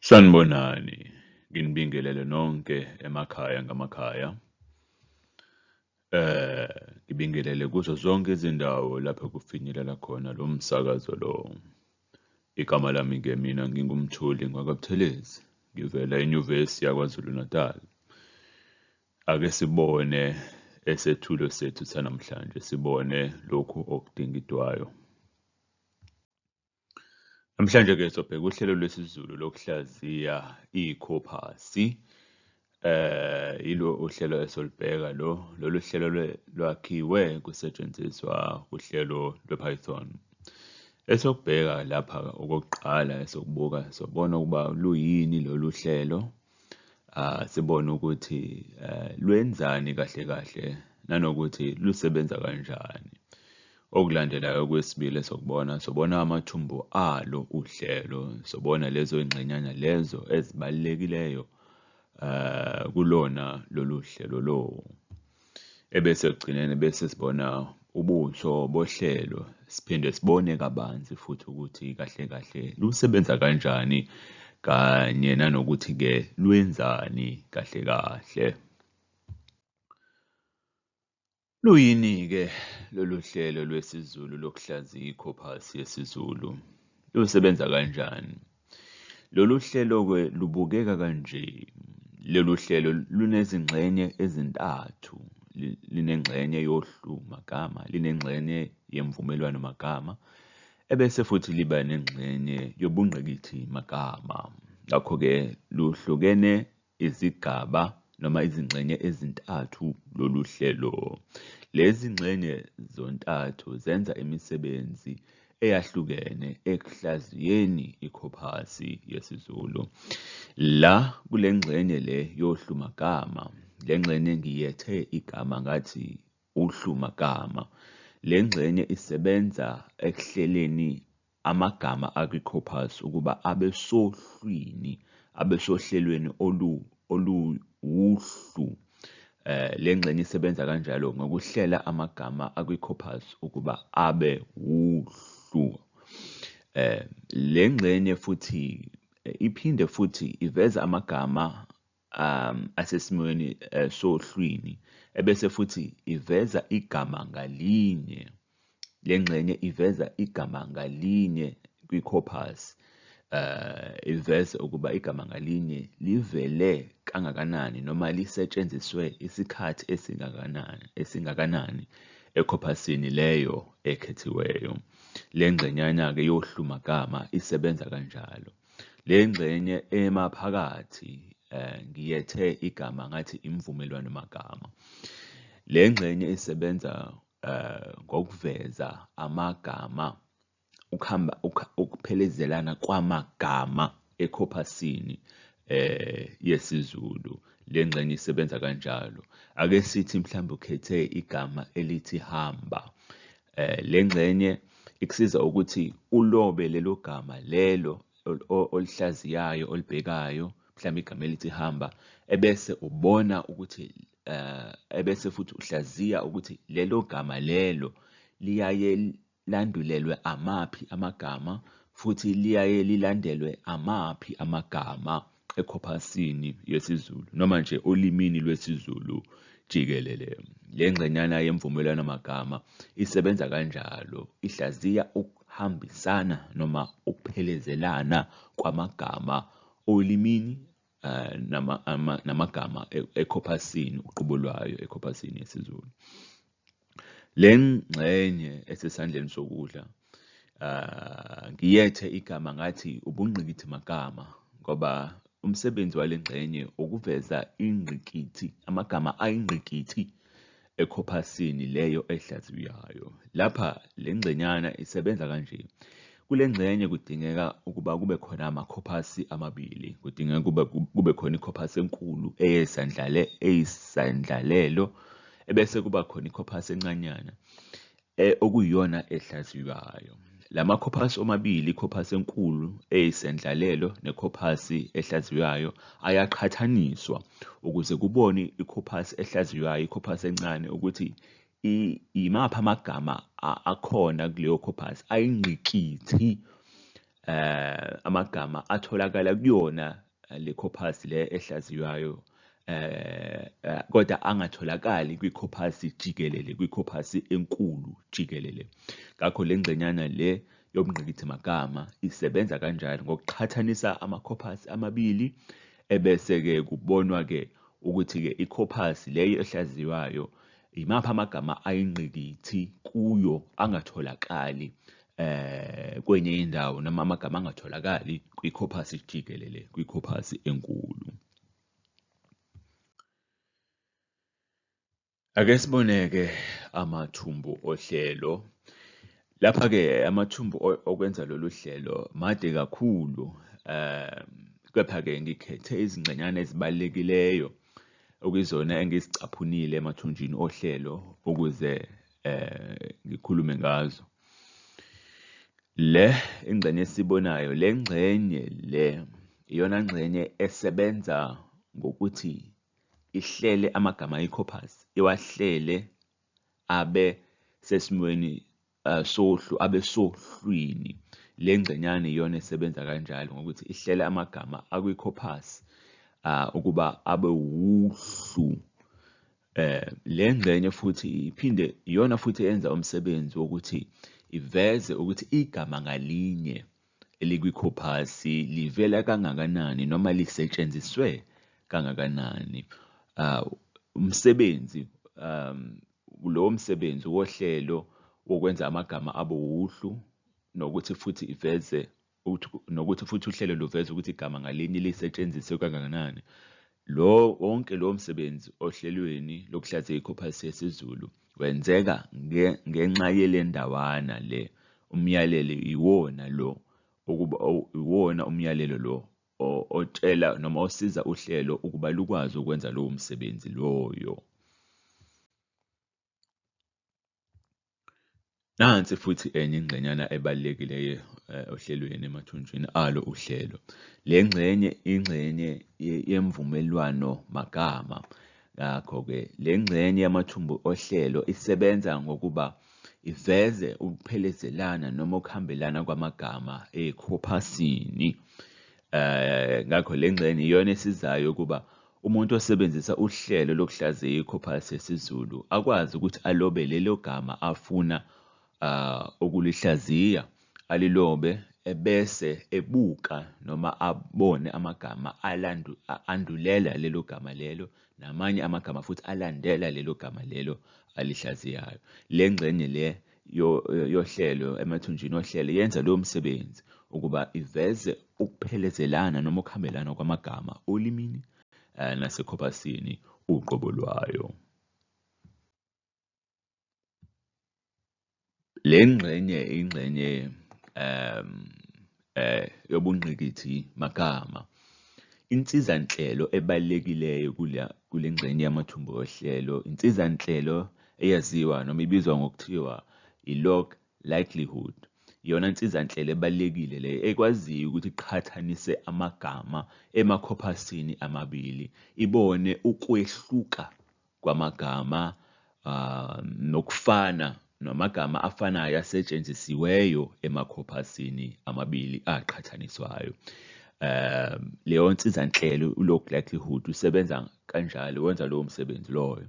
Sanibonani, nginibingelele nonke emakhaya ngamakhaya. Eh, ngibingelele kuzo zonke izindawo lapho kufinyelela khona lo msakazo lo. Igama lami-ke mina nginguMthuli Ngwakabuthelezi, ngivela eNyuvesi yaKwaZulu-Natal. Ake sibone esethulo sethu sanamhlanje, sibone lokhu okudingidwayo. Namhlanje-ke sobheka uhlelo lwesiZulu lokuhlaziya ikhophasi. Eh yilo uhlelo esolibheka lo lolu hlelo lwakhiwe kusetshenziswa uhlelo lwePython. Esokubheka lapha okokuqala esokubuka sobona ukuba luyini lolu hlelo sibone ukuthi lwenzani kahle kahle nanokuthi lusebenza kanjani. Okulandelayo okwesibili esokubona sobona amathumbu alo uhlelo, sobona lezo ngxenyana lezo ezibalulekileyo kulona lolu hlelo lowo. ebese ekugcineni bese sibona ubuso bohlelo siphinde sibone kabanzi futhi ukuthi kahle kahle lusebenza kanjani kanye nanokuthi-ke lwenzani kahle kahle. Luyini-ke lolu hlelo lwesiZulu lokuhlaziya ikhopasi yesiZulu? Lusebenza kanjani? Lolu hlelo-ke lubukeka kanje, lolu hlelo lunezingxenye ezintathu, linengxenye yohlu magama, linengxenye yemvumelwano magama, ebese futhi liba nengxenye yobungqikithi magama. Ngakho-ke luhlukene izigaba noma izingxenye ezintathu lolu hlelo. Lezi ngxenye zontathu zenza imisebenzi eyahlukene ekuhlaziyeni ikhophasi yesiZulu. La kule ngxenye le yohlu magama, le ngxenye ngiyethe igama ngathi uhlu magama. Le ngxenye isebenza ekuhleleni amagama akwiCorpus ukuba abe sohlwini, abe sohlelweni olu, oluwuhlu. Eh, le ngxenye isebenza kanjalo ngokuhlela amagama akwiCorpus ukuba abe wuhlu. Eh, le ngxenye futhi eh, iphinde futhi iveza amagama um asesimweni eh, sohlwini ebese futhi iveza igama ngalinye le ngxenye iveza igama ngalinye kwi-corpus eh iveze ukuba igama ngalinye livele kangakanani noma lisetshenziswe isikhathi esingakanani esingakanani ekhopasini leyo ekhethiweyo le ngxenyana-ke yohlumagama isebenza kanjalo Le ngxenye emaphakathi um ngiyethe igama ngathi imvumelwano magama. Le ngxenye isebenza um ngokuveza amagama ukuhamba ukuphelezelana kwamagama ekhophasini eh yesiZulu le ngxenye isebenza kanjalo ake sithi mhlawumbe ukhethe igama elithi hamba Eh, le ngxenye ikusiza ukuthi ulobe lelo gama lelo olihlaziyayo olibhekayo mhlawumbe igama elithi hamba ebese ubona ukuthi eh, ebese futhi uhlaziya ukuthi lelo gama lelo liyaye landulelwe amaphi amagama futhi liyaye lilandelwe amaphi amagama ekhophasini yesiZulu noma nje olimini lwesiZulu jikelele. Le ngxenyana yemvumelwano magama isebenza kanjalo, ihlaziya ukuhambisana noma ukuphelezelana kwamagama olimini eh, namagama e-, ekhophasini uqobo lwayo ekhophasini yesiZulu. Le ngxenye esesandleni sokudla ah, ngiyethe igama ngathi ubungqikithi magama ngoba umsebenzi wale ngxenye ukuveza ingqikithi amagama ayingqikithi ekhophasini leyo ehlaziywayo. Lapha le ngxenyana isebenza kanje. Kule ngxenye kudingeka ukuba kube khona amakhophasi amabili. Kudingeka ukuba kube khona ikhophasi enkulu eyesandlale eyisandlalelo ebese kuba khona ikhophasi encanyana e, okuyiyona ehlaziywayo. La makhophasi omabili, ikhophasi enkulu eyisendlalelo nekhophasi ehlaziywayo, ayaqhathaniswa ukuze kubone ikhophasi ehlaziywayo, ikhophasi encane, ukuthi yimaphi amagama akhona kuleyo corpus ayingqikithi eh amagama atholakala kuyona eh, le corpus le ehlaziywayo eh, eh kodwa angatholakali kwi-corpus jikelele kwi-corpus enkulu jikelele ngakho le ngxenyana le yobungqikithi magama isebenza kanjalo ngokuqhathanisa ama-corpus amabili ebese-ke kubonwa-ke ukuthi-ke i-corpus leyo ehlaziywayo Yimaphi amagama ayingqikithi kuyo angatholakali eh kwenye indawo noma amagama angatholakali kwi-corpus jikelele kwi-corpus enkulu? Ake siboneke amathumbu ohlelo. Lapha-ke amathumbu okwenza lolu hlelo made kakhulu, um kepha-ke ngikhethe izingxenyana ezibalulekileyo okuyizona engizicaphunile emathunjini ohlelo ukuze eh ngikhulume ngazo le ingxenye esibonayo le ngxenye le iyona ngxenye esebenza ngokuthi ihlele amagama eCorpus iwahlele abe sesimweni uh, sohlu abesohlwini le ngxenyana iyona esebenza kanjalo ngokuthi ihlela amagama akwi-corpus uh, ukuba abe wuhlu eh le ngxenye futhi iphinde iyona futhi yenza umsebenzi wokuthi iveze ukuthi igama ngalinye elikwi-corpus livela kangakanani noma lisetshenziswe kangakanani uh, umsebenzi um, Lowo msebenzi wohlelo wokwenza amagama abe wuhlu nokuthi futhi iveze nokuthi futhi uhlelo luveze ukuthi igama ngalinye lisetshenziswe kangakanani. Lo wonke lowo msebenzi ohlelweni lokuhlaziya ikhophasi yesiZulu wenzeka nge, ngenxa yelendawana le. Umyalelo iwona lo ukuba iwona umyalelo lo otshela noma osiza uhlelo ukuba lukwazi ukwenza lowo msebenzi loyo. Nansi futhi enye ingxenyana ebalulekileyo eh, ohlelweni emathunjini alo uhlelo. Le ngxenye ingxenye yemvumelwano magama. Ngakho-ke le ngxenye yamathumbu ohlelo isebenza ngokuba Iveze ukuphelezelana noma ukuhambelana kwamagama ekhophasini. Eh, ngakho le ngxenye iyona esizayo ukuba umuntu osebenzisa uhlelo lokuhlaziya ikhophasi yesiZulu akwazi ukuthi alobe lelo gama afuna ah, ukulihlaziya, alilobe ebese ebuka noma abone amagama alandu, a- andulela lelo gama lelo Namanye amagama futhi alandela lelo gama lelo alihlaziyayo. Le ngxenye le yohlelo emathunjini ohlelo yenza lowo msebenzi ukuba iveze ukuphelezelana noma ukuhambelana kwamagama olimini eh, nasekhobasini uqobo lwayo. Le ngxenye ingxenye um eh yobungqikithi magama. Insizanhlelo ebalulekileyo kule kule ngxenye yamathumbu ohlelo insizanhlelo eyaziwa noma ibizwa ngokuthiwa i-log likelihood. Iyona nsizanhlelo ebalulekile le ekwaziyo ukuthi iqhathanise amagama emakhophasini amabili, ibone ukwehluka kwamagama ah, nokufana namagama afanayo asetshenzisiweyo emakhopasini amabili aqhathaniswayo. Um, leyo nsizanhlelo u-log likelihood usebenza kanjalo, wenza lowo msebenzi loyo.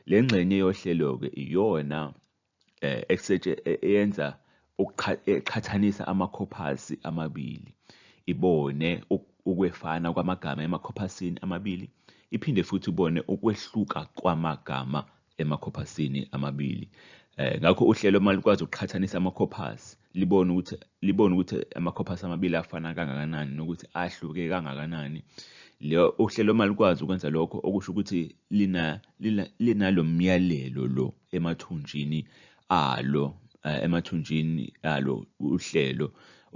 Le ngxenye yohlelo-ke iyona eh, ekusetshe e-, eyenza eqhathanisa amakhophasi amabili ibone ukwefana kwamagama emakhophasini amabili iphinde futhi ibone ukwehluka kwamagama emakhophasini amabili eh ngakho uhlelo uma likwazi ukuqhathanisa amakhophasi libone ukuthi libone ukuthi amakhophasi amabili afana kangakanani nokuthi ahluke kangakanani leyo uhlelo uma likwazi ukwenza lokho okusho ukuthi lina lina linalomyalelo lo emathunjini alo eh, emathunjini alo uhlelo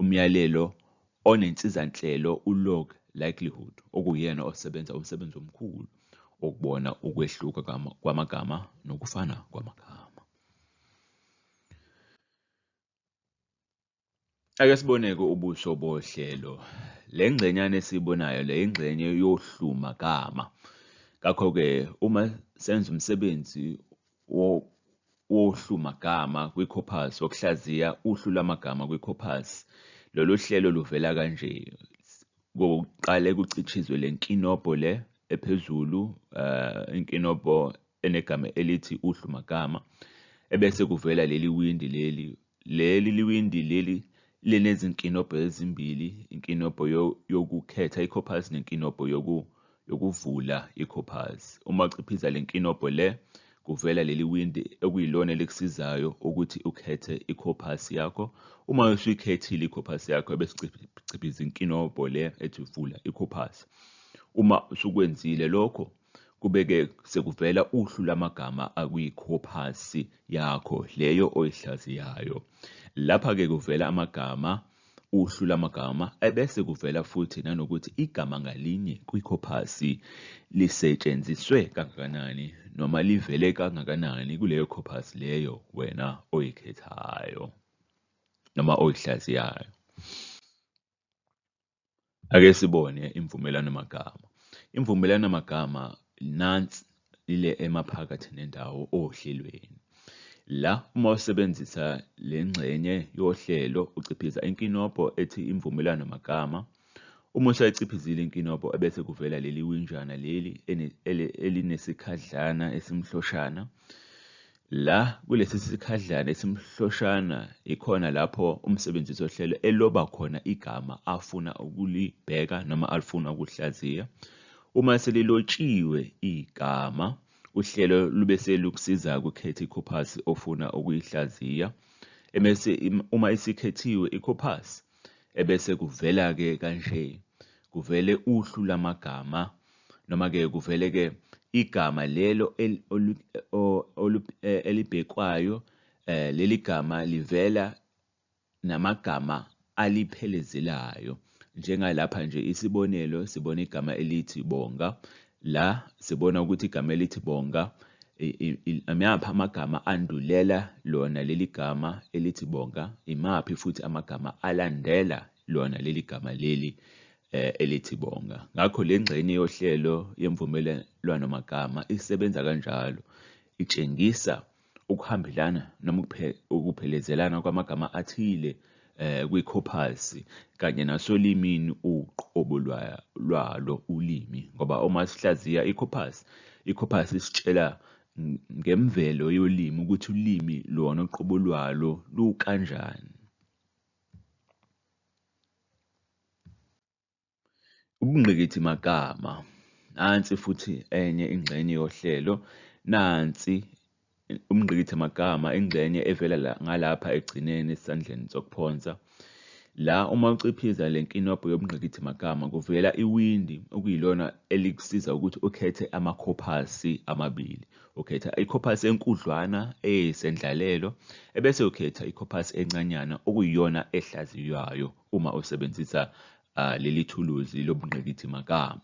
umyalelo onensizanhlelo ulog likelihood okuyena osebenza umsebenzi omkhulu ukubona ukwehluka kwamagama nokufana kwamagama. Ake sibone-ke ubuso bohlelo. Le ngxenyana esiyibonayo le ingxenye yohluma gama. Ngakho-ke uma senza umsebenzi wohluma gama kwi-corpus, wokuhlaziya uhlu lwamagama kwi-corpus, lolu hlelo luvela kanje. Kuqale kucitshizwe le nkinobho le ephezulu, eh, inkinobho enegama elithi uhlu magama ebese kuvela leli windi leli leli liwindi leli linezinkinobho ezimbili inkinobho yokukhetha ikhophazi nenkinobho yoku yokuvula ikhophazi uma uciphiza le nkinobho le kuvela leli windi okuyilona elikusizayo ukuthi ukhethe ikhophasi yakho uma usuyikhethile ikhophasi yakho ebesiciphiza inkinobho le ethi vula ikhophasi uma usukwenzile lokho Kube-ke sekuvela uhlu lamagama akwikhopasi yakho leyo oyihlaziyayo. Lapha-ke kuvela amagama, uhlu lamagama, ebese kuvela futhi nanokuthi igama ngalinye kwikhopasi lisetshenziswe kangakanani noma livele kangakanani kuleyo khopasi leyo wena oyikhethayo noma oyihlaziyayo. Ake sibone imvumelwano-magama. Imvumelwano-magama nansi ile emaphakathi nendawo ohlelweni. La uma usebenzisa le ngxenye yohlelo uciphiza inkinobho ethi imvumelwano-magama. Uma usayichiphizile inkinobho ebese kuvela leli winjana leli elinesikhahlana esimhloshana. La kulesi sikhadlana esimhloshana yikhona lapho umsebenzisi wohlelo eloba khona igama afuna ukulibheka noma alifuna ukuhlaziya. Uma selilotshiwe igama, uhlelo lube selukusiza ukukhetha ikhophasi ofuna ukuyihlaziya. Emese uma isikhethiwe ikhophasi, ebese kuvela-ke kanje, kuvele uhlu lamagama Noma-ke kuvele-ke igama lelo eh, elibhekwayo, eh, leli gama livela namagama aliphelezelayo. Njengalapha nje isibonelo sibona igama elithi bonga, la sibona ukuthi igama elithi bonga imaphi amagama andulela lona leli gama elithi bonga, imaphi futhi amagama alandela lona leli gama leli eh, elithi bonga. Ngakho le ngxenye yohlelo yemvumelwano magama isebenza kanjalo, itshengisa ukuhambelana noma ukuphelezelana kwamagama athile eh, kwikhophasi kanye nasolimini uqobo lwalo ulimi ngoba uma sihlaziya ikhophasi ikhophasi isitshela ngemvelo yolimi ukuthi ulimi lona uqobo lwalo lukanjani Ubungqikithi magama. Nansi futhi enye ingxenye yohlelo. Nansi umngqikithi magama ingxenye evela la, ngalapha ekugcineni esandleni sokuphonsa. La uma uciphiza le nkinobho yobungqikithi magama kuvela iwindi okuyilona elikusiza ukuthi ukhethe amakhophasi amabili. Ukhetha ikhophasi enkudlwana eyisendlalelo ebese ukhetha ikhophasi encanyana okuyiyona ehlaziywayo uma usebenzisa uh, leli thuluzi lobungqikithi magama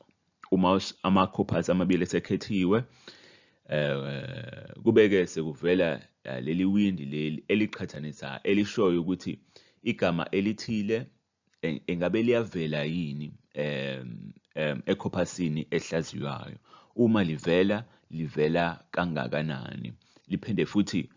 uma ama-corpus amabili esekhethiwe um kubeke sekuvela uh, leli windi leli eliqhathanisayo elishoyo ukuthi igama elithile engabe liyavela yini um um ekhopasini ehlaziywayo uma livela livela kangakanani liphinde futhi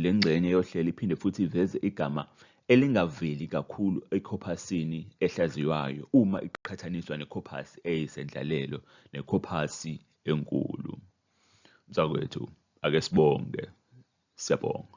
le ngxenye yohlelo iphinde futhi iveze igama elingaveli kakhulu ekhophasini ehlaziywayo uma iqhathaniswa nekhophasi eyisendlalelo nekhophasi enkulu. Mntakwethu, ake sibonge. Siyabonga.